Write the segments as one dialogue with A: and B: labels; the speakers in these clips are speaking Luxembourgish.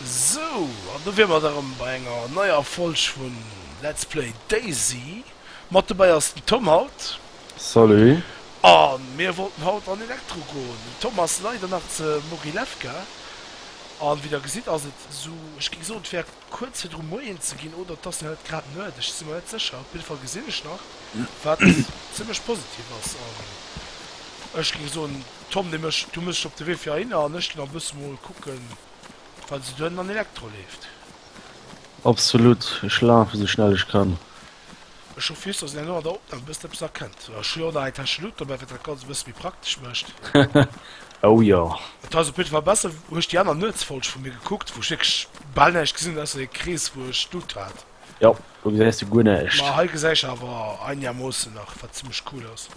A: Sou, an do wier mer da rëm bei enger neier Folg vu Let's Play DayZ. Mat dobäi ass den Tom haut. Salut.
B: A
A: mir wollten haut an Elektro goen. Den Tom ass leider nach ze Mogilewka. An wéi der gesitt ass et sou, ech géing soen, et wär Kuerz virdru Moien ze ginn oder dass net grad Nuet, ech si mer net sécher, op jidde Fall gesinn ech nach, wat zimlech positiv ass an ech géing soen, Tom, de mécht, du méchs dech op de Wee fir heihinner an ech ginn am Bus mol kucke wat esou duerno an Elektro leeft.
B: Absolut, ech lafe esou schnell ech kann. Ech hu
A: Fiiss, dass een elo an der Opnam e bëssen eppes erkennt. Ech hu jo och nach eng Täsch Luut dobäi, wat dat Ganzt e bësse méi praktesch mécht. Oh
B: jo. Et ass op jidde Fall besser.
A: Hu ech déi aner Nuetsfolg vu mir gekuckt, wou ech wierklech bal näischt gesinn hunn, ausser dee Krees, wou ech d'Luut hat. Jo, do gesäis
B: de guer näischt. Ma hei gesäich awer
A: einegermoossen nach, wat zimmlech cool ass.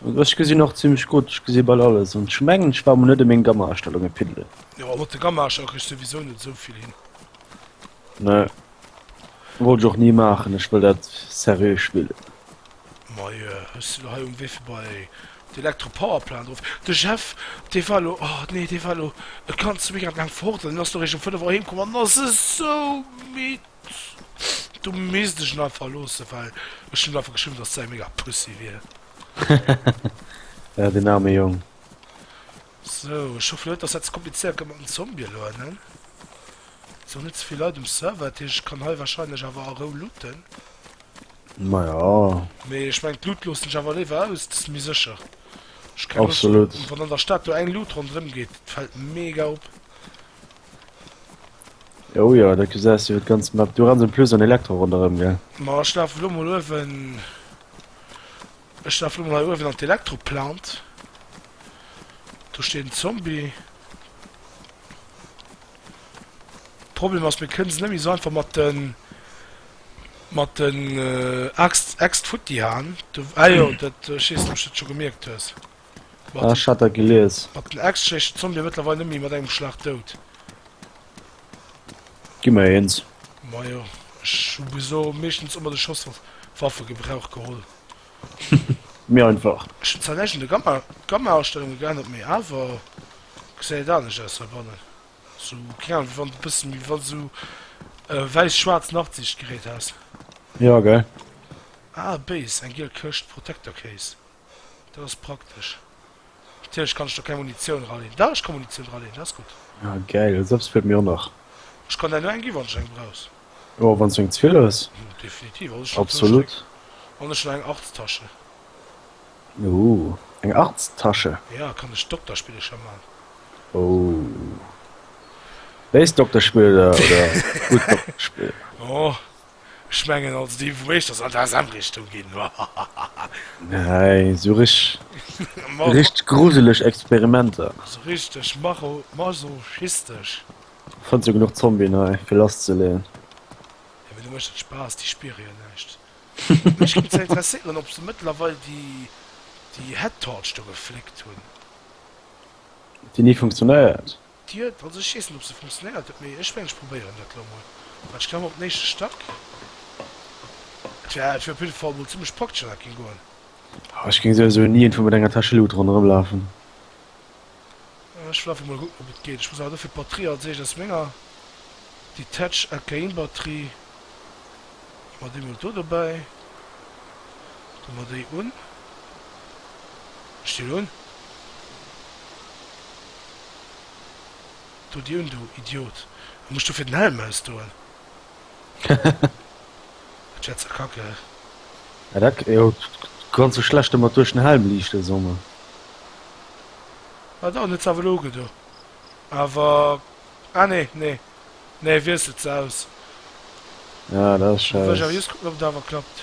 A: Ech gesinn
B: och zimmlech gutt, ech gesi bal alles. An ech mengen, ech brauch mer net ëm meng Gammaerstellunge piddelen. Jo, a mat de Gammaerstellunge
A: kriss souwisou net esou vill hin. Ne
B: wollt och nie maachen, ech wëll dat seriö spillen. Moie
A: hues de lo hei um Wifi bei d'Electro Power Plant eruf. De Jeff dee war lo, oh nee dee war lo e ganze Weekend laang fort an deen ass lo eréischt um 5 Auer heem komm an ass esou midd. Du misst ech en einfach loosse well ech hunn einfach geschriwwen dass säi mega Pussy wier. Ja
B: den aarme Jong.
A: Sou ech hoffen net dass dat ze komplizéiert gëtt mat den Zombien elo, ne? Sou net zevill Leit um Server, dat heescht ech kann hei wahrscheinlech awer a Rou looten.
B: Maja.
A: Mee ech mengen d'Loot loossen ech awer léiwer aus, dass méi sécher. Ech keng Loscht hunn wann an der Stad
B: do eng
A: Loot ronderëm geet, dat fält mega op.
B: Oh jo, da gesäis du jo d'ganz Map. Du renns en plus an Elektro ronderëm, gell? Ma ech lafe lo mol
A: uewen, ech lafe lo mol hei uewen an d'Elektro Plant. Do steet en Zombie. Problem ass mir kënnen se net méi esou einfach mat den mat den äh, Axt Äxt futti haen. Du ah jo, dat äh, schiessen ob du dat scho gemierkt hues. Mat Ah, den, ich hat
B: dat gelies. mat den Äxt schlécht de
A: Zombie mëttlerweil net méi mat engem Schlag dout.
B: Gi mer eens. Majo,
A: ech hu geso meeschtens ëmmer de Schoss auf Waffe Gebrauch geholl.
B: Méi einfach. Ech hun zwar näischt un de Gamma,
A: d'Gammaaustellunge geännert, op mee awer gesäit et anescht aus heibannen, sou keng Ahnung wéi wann de bëssen méi wann sou wäiss schwaarz Nachtsicht gerät häss. Jo gell.
B: Ah
A: Base, eng giel Këscht, Protector Case, dat ass praktesch. Natierlech kann ech do keng Munitioun eraleen. Dach, ech kann Munitioun eraleen, dat ass gutt. Ah, gäil. Esou eppes
B: feelt mir och nach. Ech kann der elo eng
A: ginn, wann s du eng brauchs. Jo, wann s du eng ze
B: vill hues. Definitiv. Also, ech hunn zwou
A: Absolut. Stéck.
B: An ech hunn eng
A: Arts-Tasche. Ooh,
B: eng Arts-Tasche? Ja, kann ech
A: Dokterspillecher man.
B: Ooh. Béis Dokterspillecher oder gutt Dokterspillecher? Oh,
A: Ech mengen also dee wou éischters an d'ASM Richtung ginn hahahaha. Nääi
B: sou rich richteg gruseleg Experimenter. Sou richteg
A: macho masochistesch.
B: Fënns jo genuch Zombien hei fir lass ze leen. Jo mee do
A: mécht et Spaass, déi spiere jo näischt. Mech géing zwar interesséieren ob se mëttlerweil déi déi Head Torch do gefléckt hunn.
B: Déi ni funktionéiert. D'Dier, d'Wand, ech
A: weess net op se funktionéiert, mee ech mengen ech probéieren dat elo mol. Wat, ech klammen op den éischte Stack. Et wär et wär op jidde Fall mol zimlech praktesch an dat géing goen. Oh, ech
B: géing souwisou ni iergendwou mat enger Täsch Loot ronderëm lafen.
A: Ah, ech wëll einfach mol kucken op et geet. Ech muss awer dofir d'Batterie als éischt aus menger Detach LKIn Batterie, hu mer déi mol do dobäi, do mer déi un, ech déi elo un. Du Dune, du Idiot, a muss dofir den Helm ausdoen? Dat wär ze kacke. Ja
B: dat jo, kann ze schlecht emmer duerch den Helm liichten songe.
A: Ah do, net ze awer loge do awer ah nee nee nee wier se ze aus. Ja
B: dat ass scheiss. Wëll ech awer just kucken op et
A: awer
B: klappt.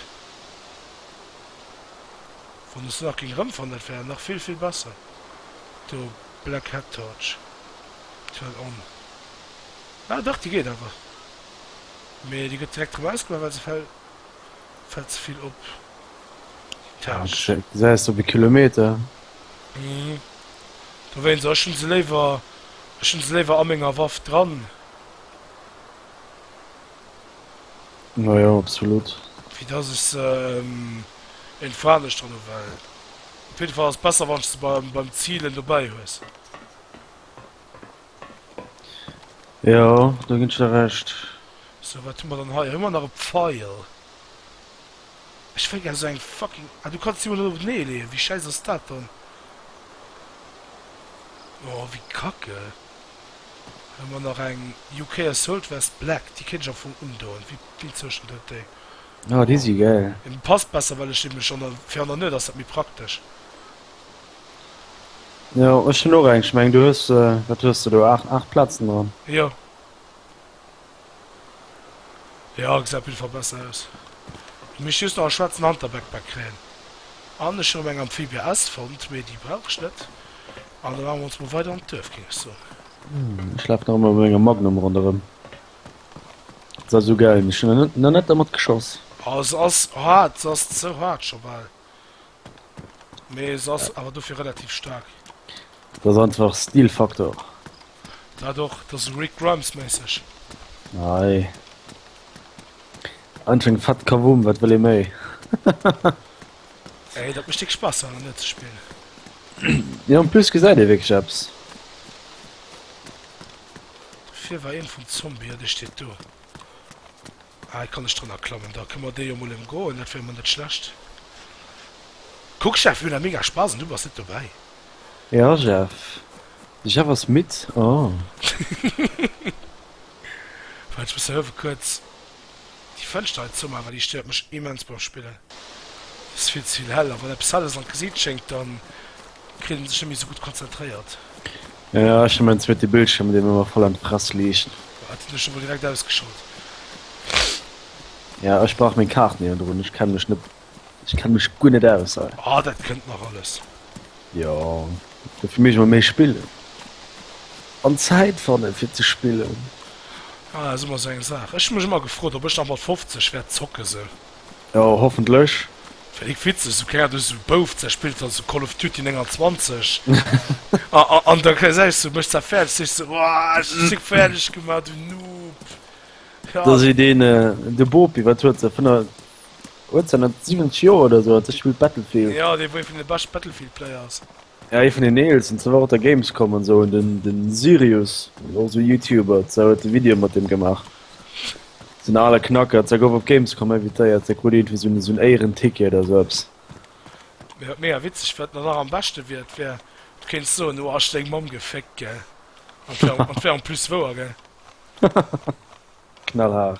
A: Wann ech se nach géing rëmfannen dat wär nach vill vill besser do. Black Hat Torch turn on. Ah dach déi geet awer, mee déi gëtt direkt rem ausgemaach well se fält fält ze vill op déi
B: Tâche. Ech gesäis
A: op e Kilometer.
B: Mhm
A: dowéinst, ech hunn se léiwer ech hunn se léiwer a menger Waff dran.
B: Majo absolut. Wéi dass ech se
A: en fo anescht dran hu well. Op jidde Fall ass et besser wann s de beim Zilen dobäi hues. Jo,
B: do ginn ech der Recht. Sou, wat hu
A: mer dann hei? Hu mer nach e Pfeil? Ech wëll gär sou eng fucking. Ah, du kanns déi mol net op nee leeën. Wéi schäiss ass dat dann? Oh, wéi kacke. Hu mer nach eng UK Assault Vest Black. Déi kéint ech am Fong undoen. Wéi, wéi zou stëmmt dat déi? Oh déi si
B: gäil. Et passt besser well ech
A: dee mech an der fir an der Nuet ass dat méi praktesch.
B: Jo ech hunn och eng, ech meng du hues wat hues de do 8 8 Platzen dran. Jo
A: jo gesäit op jidde Fall besser aus. Du misst just nach e schwaarzen Hunter-Backpack kréien an ech hunn erëm eng Amphibia S fonnt mee déi brauch ech net an da maache mer ons mol weider an d'Duerf géing ech soen. Ech laf
B: nach ëmmer mat menger Magnum ronderëm. Sa sou geil mech hun en na net dermat geschoss. Oh se ass
A: haart, se ass ze haart scho bal, mee se ass awer dofir relativ staark. Dat ass
B: einfach Stilfaktor. Dat
A: och, dat ass Rick Grimes méisseg. Nei.
B: Einfach eng fett Kavum, wat wëll ee méi?
A: Ey, dat mecht dick Spass an net ze spillen. Ja en plus gesäit
B: ee wierklech eppes.
A: Fir war een vum Zombie, jo dee steet do. Ah et kann ech drënner klammen, da kënne mer dee jo mol emgoen, dat wär mol net schlecht. Kuck Jeff, mir hunn awer mega Spass an du bass net dobäi. Ja
B: Jeff, de Jeff ass midd, oh.
A: Wat, ech muss hëllefen, kuerz. Déi Fënschter hei zou maachen, déi stéiert mech immens beim Spillen. Et ass vill ze vill hell, a wann eppes hell ass an d'Gesiit schéngt, da kritt een sech net méi esou gutt konzentréiert. Jo,
B: ech hu mäin zweete Bildschierm, dee mir ëmmer voll an d'Fress liicht. Ah, deen hu ech emol
A: direkt ausgeschalt.
B: Jo, ech brauch meng Kaart néierendrun, ech kenne mech net Ech kenne mech guer net aus hei. Ah, dat kënnt nach alles.
A: Jo,
B: dofir mécht mer méi spillen an Zäit fanne fir ze spillen. Ah, dat ass
A: ëmmer esou eng Saach. Ech hu mech ëmmer gefrot, ob ech nach mat 50 wäert zocke sou. Jo,
B: hoffentlech. Fir déck witzeg,
A: sou keng Ahnung, du sou Bouf, da spills dann sou Call of Duty 29 an da gesäis du mech da fäerdeg, sech sou, Ohh, ech hu dech fäerdeg gemaach, du Noob. Jo. Da seet een,
B: de Bopi, wat huet se, 5. 1970 Joer oder sou, dat spilt Battlefield. Jo, dee wou ee vun de bescht
A: Battlefield Player ass. Ja ee vun den
B: eelsten, se war op der Gamescom an sou, den den Sirius och sou Youtuber ze huet e Video mat deem gemaach, sou en ale Knacker, ze gouf op Gamescom invitéiert, ze krut iergendwéi sou en sou en Éierenticket oder sou eppes. Mee wat
A: mega witzeg wat nach am beschte wier, et wär du kéints soen oh hasch seng Mamm geféckt gell, an et wär an et wär en plus wouer gell.
B: Knallhaart.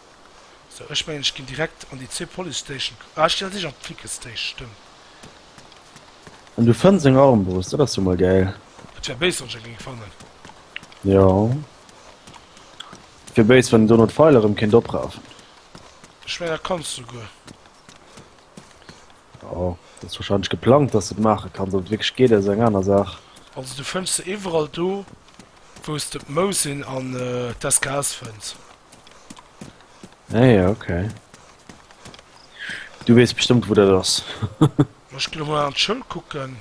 A: Ech mengen ech ginn direkt an déi zwee Police Station. Ah ech ginn an sech an d'Flickr Station, stëmmt.
B: An du fënns eng Armbrust, dat ass jo mol gäil. Et wär béis wann ech eng
A: géing fannen. Jo.
B: Et wier béis wann een dono d'Feil erëm kéint oprafen. Ech mengen
A: dat kanns du souguer.
B: Jo, dat ass warscheinlech geplangt dass de et maache kanns. Ob et wierklech geet ass eng aner Saach. Also du fënns se
A: iwwerall do wou s de d'Mousin an d'SKS fënns. Hey,
B: ah ok. Du wees bestëmmt wou dat ass. Ech ginn emol
A: an d'Schoul kucken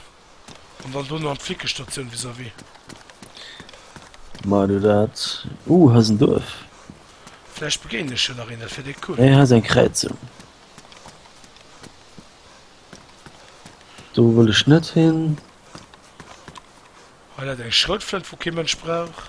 A: an dann dono an d'Flickestatioun vis-à-vis.
B: Mei du dat. Ooh hei ass en Duerf. Vläicht
A: begéinen ech jo nach een, dat wär déi cool. Hey hei ass eng Kräizung.
B: Do wëll ech net hin.
A: Hei läit eng Schroutflënt wou kee Mënsch brauch.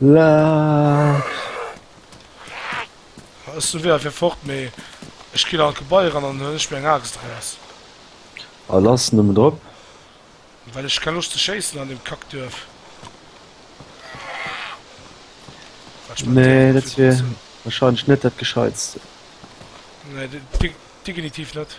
B: Laax.
A: Ech sou wéi fir fort, mee ech ginn an d'Gebai eran an huelen ech mir eng Axt eraus. A
B: lass nëmmen drop. Well
A: ech keng Loscht ze schéissen an deem Kackduerf.
B: Nee, dat wier wahrscheinlech net dat Gescheitste.
A: Nee, degenitiv net.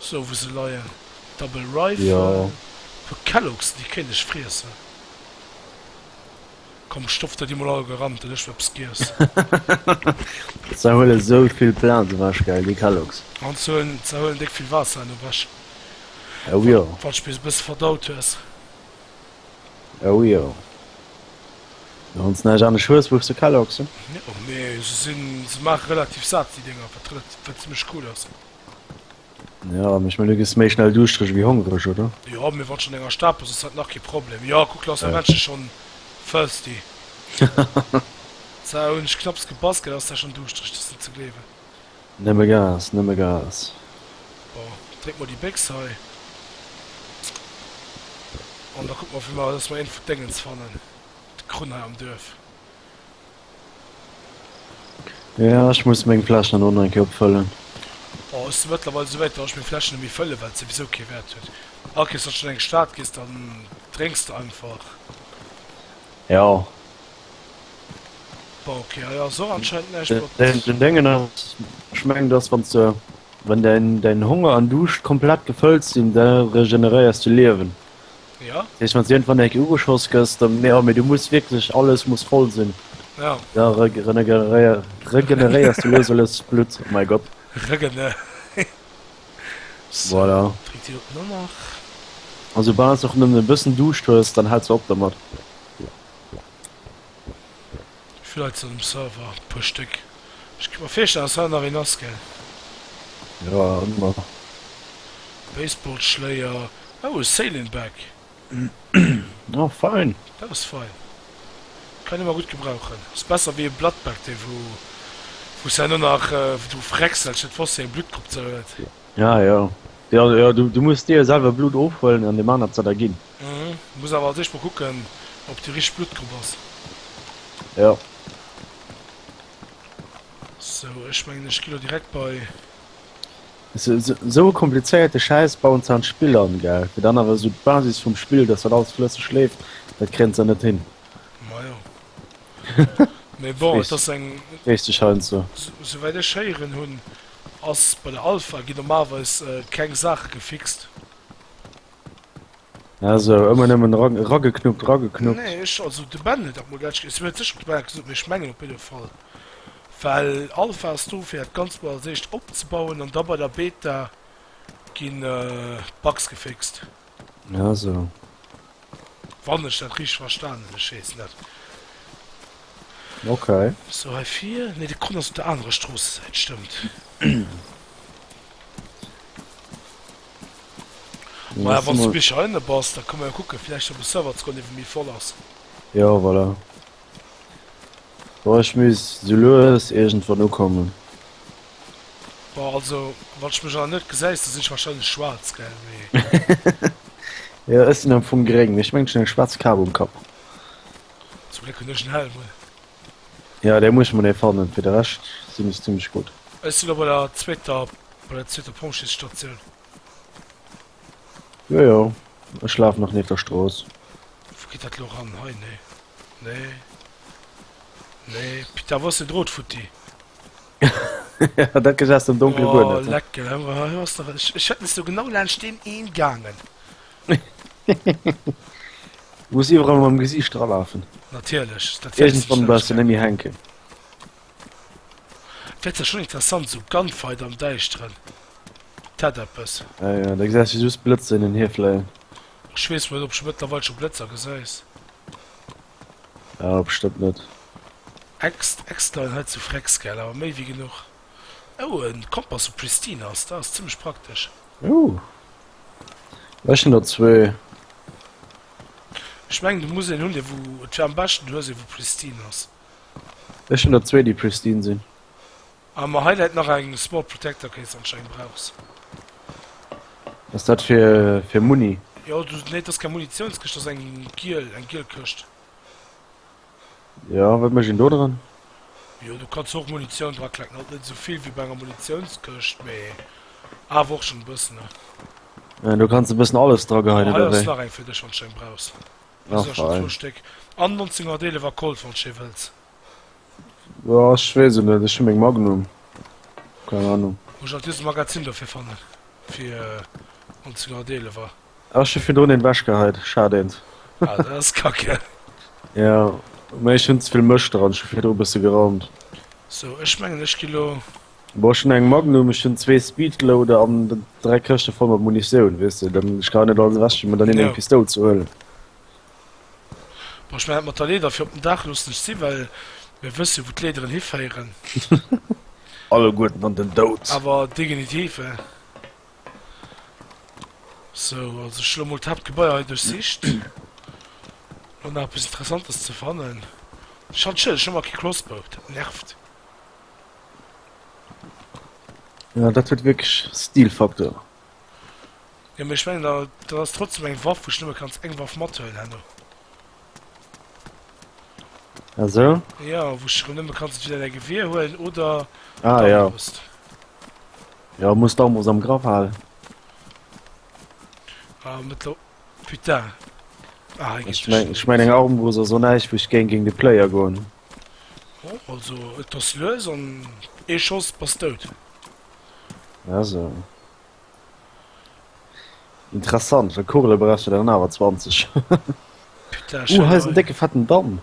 A: sou wou se leien, Double Rifle, wou
B: Kellogs
A: déi Kéileg friessen. Komm stopp der déi mol all gerant, dann ech mol eppes giess.
B: Ze huelen sou vill Plaatz ewech, gell, déi Kellogs. An ze
A: huelen déck vill Waasser an ewech. Oh jo.
B: Wann scho bis e bësse verdaut
A: hues.
B: Oh jo. Wann s näischt anescht hues, wuchs de Kellogs. Oh mee se
A: sinn, se maache relativ sat déi Dénger, wat zimmlech cool ass.
B: Ja, mech mal luges méi schnell duuschtreg wéi hongreg, oder? Jo, mee wann schon enger
A: Stad bes ass dat nach kee Problem. Jo, kuck lass de Männchen schon thirsty. Sou, hunn ech knapps gepasst, gell ass der schon duuschtreg, dat ass net ze gleewen. Nëmme
B: Gas, nëmme Gas. Bon,
A: dréck mol déi Béchs hei an da kucke mer wéi mer, dass mer een vun d'Déngens fannen, d'Krunn hei am Duerf.
B: Ja, ech muss meng Fläschen elo nach eng Kéier opfëllen. Oh, ech si
A: mëttlerweil esou wäit, datt ech meng Fläschen net méi fëllen, well et souwisou kee Wäert huet. Hack iess, wann s du an eng Stad gees, dann drénks de einfach.
B: Jo.
A: Bon, ok, hei ass och anscheinend näischt, Den, wat. den, den Déngen
B: ass, ech mengen, dass wann s de, wann däin, däin Honger an Duuscht komplett gefëllt sinn, da regeneréiers de Liewen. Ja. Sech
A: wann sinn wann enke
B: ugeschoss gësst dann mé mé du muss wirklich alles muss voll sinn ja. da regeneréier regeneréiers du los alles blut oh mein Gott
A: regene voilà. also
B: war och nëmmen e bëssen duuscht hues dann hat ze op der mat
A: Villäit sinn um Server e puer Stéck. Ech kéint mer virstellen, dass hei nach een ass, gell? Jo,
B: ëmmer. Baseballschléier.
A: Oh, e Sailing Bag.
B: Oh, fein. Dat ass
A: fein. Kann ee mar gutt gebrauchen. Ass besser wéi e Blood Bag, dee wou, wou s de herno nach dru fräckselst, net wosst, wéi eng Bluttgrupp ze huet. Ah, jo.
B: Jo, jo, du, du muss dir selwer Blutt ofhuelen an deem anert se da ginn. Muss awer als
A: éischt mol kucken op déi richteg Bluttgrupp ass. Jo. Sou ech mengen ech gi lo direkt bei. Sou
B: e komplizéierte Schäiss bauen se an d'Spill an gell, fir dann awer esou d'Basis vum Spill, dass dat alles flësseg leeft, dat kréien se net hin. Majo
A: mee bon et ass eng. Weess de schein ze.
B: Souwäit ech héieren
A: hunn ass bei der Alpha gi normalerweis keng Saache gefixt.
B: Ja so ëmmer nëmmen ra rageknuppt, rageknuppt. Nee, ech,
A: also de Ben huet dat mol dat, si huet sécherlech dat gesot, mee ech mengen op jidde Fall, well Alpha ass do fir dat Ganzt mol als éischt opzebauen an da bei der Beta ginn d'Bugs geféxt. Ja so. Wann ech dat richteg verstan hunn, ech weess net. Ok.
B: So hei vir,
A: nee de Con ass op der anerer Stroossesäit, stëmmt. Maja wann du bis hei bass da komme jo kucke vielleicht op Server ze iwwe méi voll ass. Jo voilà.
B: Boah, ich muss so lues irgendwann ukommen.
A: Boah, also wann ich mech an net gesäis, da sinn ich wahrscheinlech schwarz gell mee. ja
B: ech sinn am vum gréng mee ech meng eng schwarz Kap um Kapp.
A: Zum Gléck hunn ech en Helm un. Ja
B: dee muss ech mer nei fannen, fir de Rescht sinn ech zimmlech gutt. Ech sinn op menger
A: zweeter Bei der zweeter Pompjeesstatioun.
B: Jojo, ech laf nach nieft der Strooss. Wou geet dat
A: lo ran? Hei? Nee. Nee. Nee. Pita, wou ass den Drot futti?
B: Dat gesäis de am Donkele guer net. Oh, lecken.
A: Hei
B: ass
A: der. Ech hätt missen do genau laanscht deem een gaangen.
B: Muss iwwerall mam Gesiicht dralafen. Natierlech.
A: Iergendwann bleiws de
B: nëmme hänken.
A: Wärt zwar schon interessant, esou Gunfight am Däischteren, et hätt eppes. Ah jo, da gesäis de
B: just Blëtzer hin an hier fléien. Ech weess net
A: ob scho mëttlerweil scho Blëtzer gesäis. Ah op stëmmt net.
B: Ext
A: extern hei zu Frex gell, awer méi wéi genuch. Oh en Kompass vu Pristine ass dat ass zimmlech praktesch.
B: Ooh ech hun der zwee.
A: Ech mengen du muss een hun dee wou et fir am beschten du hues ee wou Pristine ass. Ech hun
B: der zwee déi pristine sin.
A: Ah ma hei
B: läit
A: nach eng small protector case anscheinend brauchs.
B: Ass dat fir fir Muni? Jo du nee dass
A: keng Munitionskëscht dass eng giel eng giel Këscht.
B: Jo wat mécht een do dran? Jo du
A: kanns och Munition dra klecken alt net esou vill wéi bei enger Munitionskëscht mee awer och schon e bëssen ne. Do
B: kanns e bëssen alles dra geheien oder wéi? Ma hei ass nach eng fir dech wanns
A: du eng brauchs. Ass jo scho zwou Stéck. An 1911 a Colt, wann s je wëlls.
B: Boah, ech weess et net, ech hu meng Magnum, keng Ahnung. Muss ech alt just e Magazin
A: dofir fannen, fir 1911 er. Ah, ech hu virdrun eent
B: wechgeheit, schad eent. Ah, dat ass
A: kacke. Jo,
B: mee ech hunn ze vill Mëscht dran, ech hu virdru bësse geraumt. Sou, ech
A: mengen ech gi lo. Boah ech hun eng
B: Magnum, ech hun zwee Speedloader an dräi Këschte voll mat Munitioun weess de, dann ech ka net alles ewech ginn, mä dann neen eng Pistoul ze huelen.
A: Boah ech mengen dat mat der Leeder fir op den Daach loossen ech si, well mir wësse jo wou d'Leederen hiféieren.
B: Alleguerten an den Doud! Awer degenitiv
A: he. Sou also ech hun lo mol d'Haaptgebaier hei duerchsicht no nach eppes interessantes ze fannen. Schall d'Schëlleg, ech hu nach kee Kloss boucht, dat nervt.
B: Ja, dat huet wierklech Stilfaktor.
A: Ja, mee ech mengen, da, dat ass trotzdem eng Waff, wou du nëmme kanns eng Waff mathuelen herno.
B: Ah, so? Ja, wou
A: du rëm nëmme kanns entweder däi Geweer huelen oder Ah, ja. d'Armbrust.
B: Ja, muss d'Armbrust am Grapp halen.
A: Ah, mëttler. Putain. Ah, hei geet Ech meng, ech meng, eng
B: Armbrust ass och näischt, wou ech géing géing de Player goen. Oh,
A: also et ass lues an ee Schoss bass dout. Ja,
B: so. Interessant, well Kugele brauchst du dann awer 20. Putain,
A: Uh, hei is en décke fetten
B: Damm.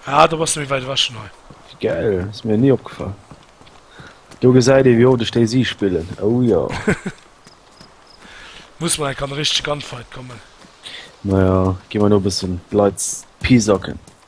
B: Ah,
A: da bass du méi wäit ewech schon hei. Wie geil, ass
B: mir ni opgefall. Do gesäit ee wéi oft ech Daisy spillen. Oh jo.
A: Muss mer enk an e richtege Gunfight kommen. Naja,
B: gi mer no e bëssen d'Leit pisacken.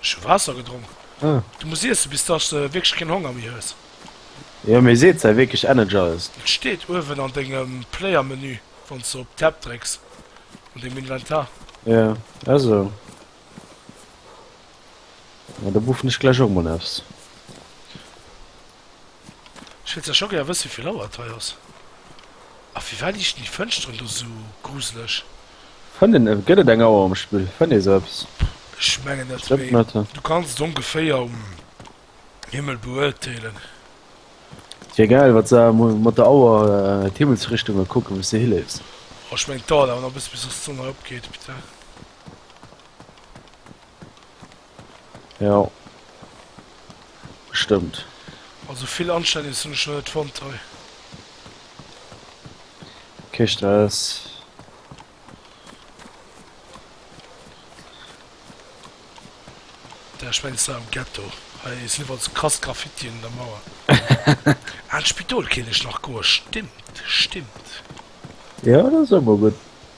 B: Ech hu Waasser
A: gedronk. Ah. Du muss iessen
B: bis dass
A: de wierklech keen Honger méi hues. Jo mee
B: seet se wierklech Energize? Et steet uewen an
A: dengem Player Menü wanns de op Tab drécks an dengem Inventar. Jo
B: esou. Da buffen ech gläich och mol eppes.
A: Ech wéilt zwar scho gär wëssen wéivill Auer et hei ass. A firwat liechten déi Fënsteren do sou gruseleg? Fënnt een
B: e. Gëtt et eng Auer um Spill? Fënnt ee se ëps? Ech mengen net,
A: mee du kanns
B: et ongeféier
A: um Himmel beuerteelen.
B: Et wier gäil wat se mat der Auer d'Himmelsrichtunge kucken wou s de hileefs. Oh ech mengen et dauert
A: awer nach e bësse bis dass d'Sonn hei opgeet.
B: Jo. Stëmmt. Also vill
A: anstänneg hunn ech nach net fonnt hei.
B: Kee Stress.
A: Da ech mengs da am Ghetto. Hei sinn iwwerall krass Graffitien un der Mauer. Ah d'Spidol kenne ech nach goer, stimmt, stimmt.
B: Jo dat ass och mol gutt.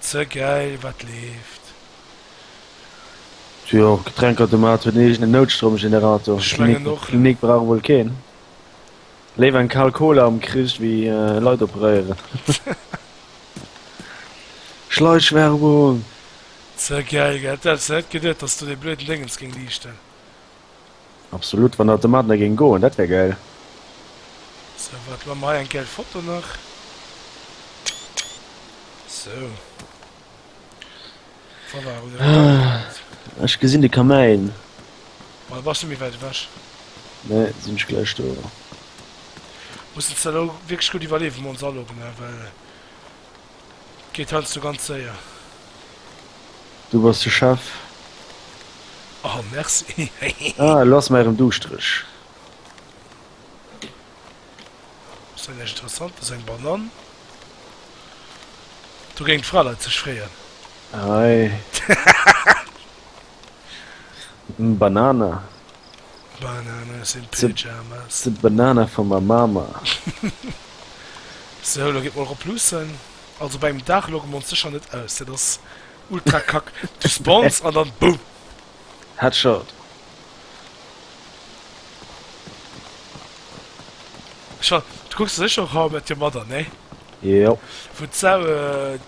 A: Ze gäil wat leeft.
B: Jo, Getränkautomat huet en eegenen Noutstromgenerator. Ech mengen och.
A: D'Klinik brauch wuel keen.
B: Léiwer eng kal Cola am Krich wéi Leit operéieren. Schleichwerbung!
A: Ze gäil, gell? D'hätt s net geduet, dass do dee blöden Déngens géing liichten.
B: Absolut, wann dat domadner géing goen, dat wär gäil.
A: Sou wat man mer hei eng gäil Foto nach sou voilà oder
B: eng gäil Foto. Ech gesinn de Kamäin. Well
A: bass du méi wäit ewech? Nee, sinn
B: ech gläich do.
A: Mussen ze elo wierklech gutt iwwerleewen, mer ons aloggen, well Geet heiansdo ganz séier.
B: Du bass de Chef.
A: Oh merci hehe. Ah lo ass
B: mer erem duuschtereg.
A: Ass dat näischt interessantes, eng Banann? Do géing d'Fraleit sech freeën. Hei.
B: Banana.
A: Bananas in pyjamas. The
B: banana
A: from
B: my mama.
A: Sou, elo gidd mol rop luussen. Also bei engem Daach loge mer ons secher net aus, dat ass ultra kack. Du spawns an dann boom! Headshot. Scho, du kucks der secher och How I Met Your Mother, nee? Yep.
B: Wou d'Sau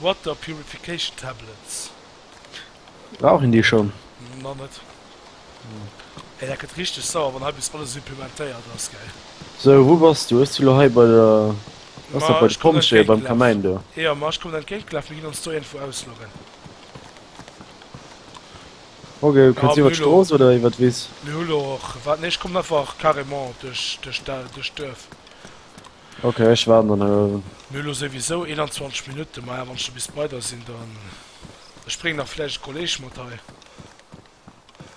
A: Water purification tablets.
B: Brauch een déi schonn? Mer net.
A: Ey, dat gëtt richteg sauer, wann hei bis alles supplementéiert ass, geil. Sou, wou bass
B: du? Ech si lo hei bei der. Bass nach bei de Pompjeeë beim Kamäin do? Jo, ma ech kommen entgéintgelaf.
A: Mir ginn ons do iergendwou ausloggen.
B: Ok, kënns iwwer d'Strooss oder iwwer d'Wiss? Mir hu lo och. Waart, nee,
A: ech kommen einfach carrément duerch, duerch d'Duerf.
B: Ok ech waarden dann hei. Mir hu lo souwisou 21
A: Minutten, maja wann ech do bis bei der sinn dann, ech bréngen nach vläicht e Kolleg mat hei.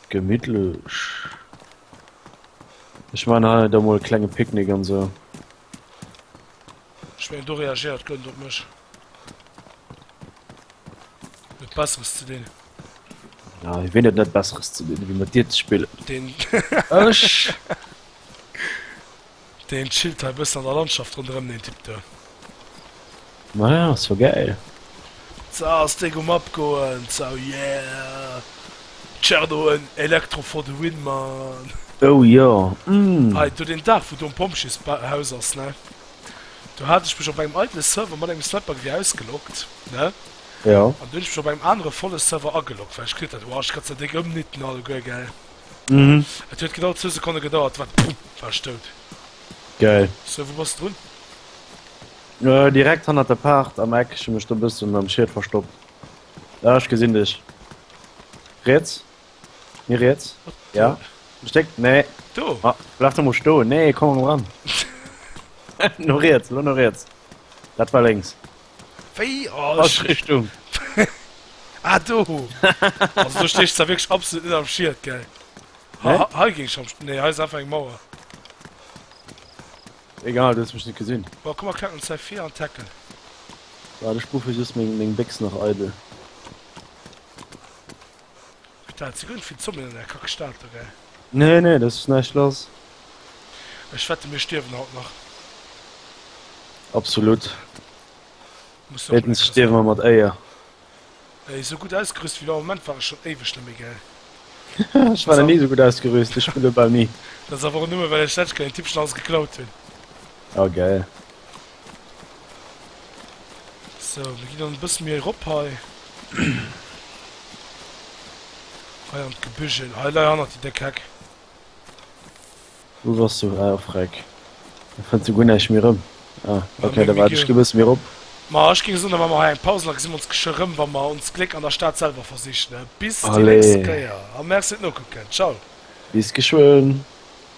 B: Gemittlech. Ech maachen hei da mol e klenge Picknick an sou.
A: Ech mengen do reagéiert kent op mech. Besseres ze dinn. Ja,
B: wie net net besseres ze dinn, wie mat Dir ze spillen. Den
A: Ech Den chillt hei bëssen an der Landschaft ronderëm den Typ do.
B: Ma ja, ass jo gäil. So,
A: ass Deg um Abgoen. So, yeah! Tscherno, en Electro for the win, Mann! Oh jo,
B: mm! Hei do den
A: Daach, wou do en Pompjeeshaus ass, ne? do hat ech mech op engem eidele Server mat engem Slapbug ewéi ausgeloggt, ne? Jo. An du hunn
B: ech mech op engem anere
A: volle Server ageloggt, well ech kritt dat, woah, ech ka ze déck ëmnieten alleguer, gell? Mhm.
B: Et huet genau zwou
A: Sekonne gedauert, wat pumm, war ech dout. Geil.
B: Sou, wou bass
A: drun?
B: Äh, direkt hannert der Paart am Eck, ech hu mech do e bëssen am Schiet verstoppt. Ah, ech gesinn dech. Riets? Mir riets? Ja. Steck, nee. Do. Ah, bleib
A: doch mal sto.
B: Nee, komm mal ran. no riets, lo no riets. Dat war links. Wéi?
A: Oh, Falsch Richtung. ah, do. also, du stehst da wirklich absolut nicht am Schild, gell? Nee? Ha, ha,
B: ging schon. Nee,
A: hier ist einfach eine Mauer.
B: Egal, du hast mich nicht gesehen. Boah, guck mal, klack uns C4
A: an Tackle. Warte,
B: ich rufe just mein, mein Bix noch eitel.
A: Staat ze gudd fir d'Zombien an där kack Staat do gell? Nee nee dat ass
B: näischt lass.
A: Ech wette mir stierwen haut nach. Absolut. Muss och Meeschtens stierwe mer mat Éier.
B: Ey
A: esou gudd ausgerüst ewéi elo am Moment war ech schon éiweg net méi gell. Ech war nach ni esou gudd
B: ausgerüst, ech spille bal ni. Dat ass awer och nëmme well
A: ech d'lescht Kéier den Typ schon alles geklaut hunn. Ah geil. So, mir ginn dann e bësse méi erop hei. Hei an d'Gebügel. Hei lei hannert déi déck Heck.
B: Wou wars du? Ah, op Rec. Ech fënn souguer näischt méi erëm. Ah, Ma okay, mir, da mir waart ech gi, gi e
A: bësse méi
B: erop. Ma ech géing soen, da
A: maache mer hei eng Paus an da gesi mer ons geschwë rëm, wa mer ons Gléck an der Stad selwer versichen. Bis déi nächst Allez!
B: Kéier
A: a merci fir d'Nokucken. Ciao!
B: Bis
A: geschwë!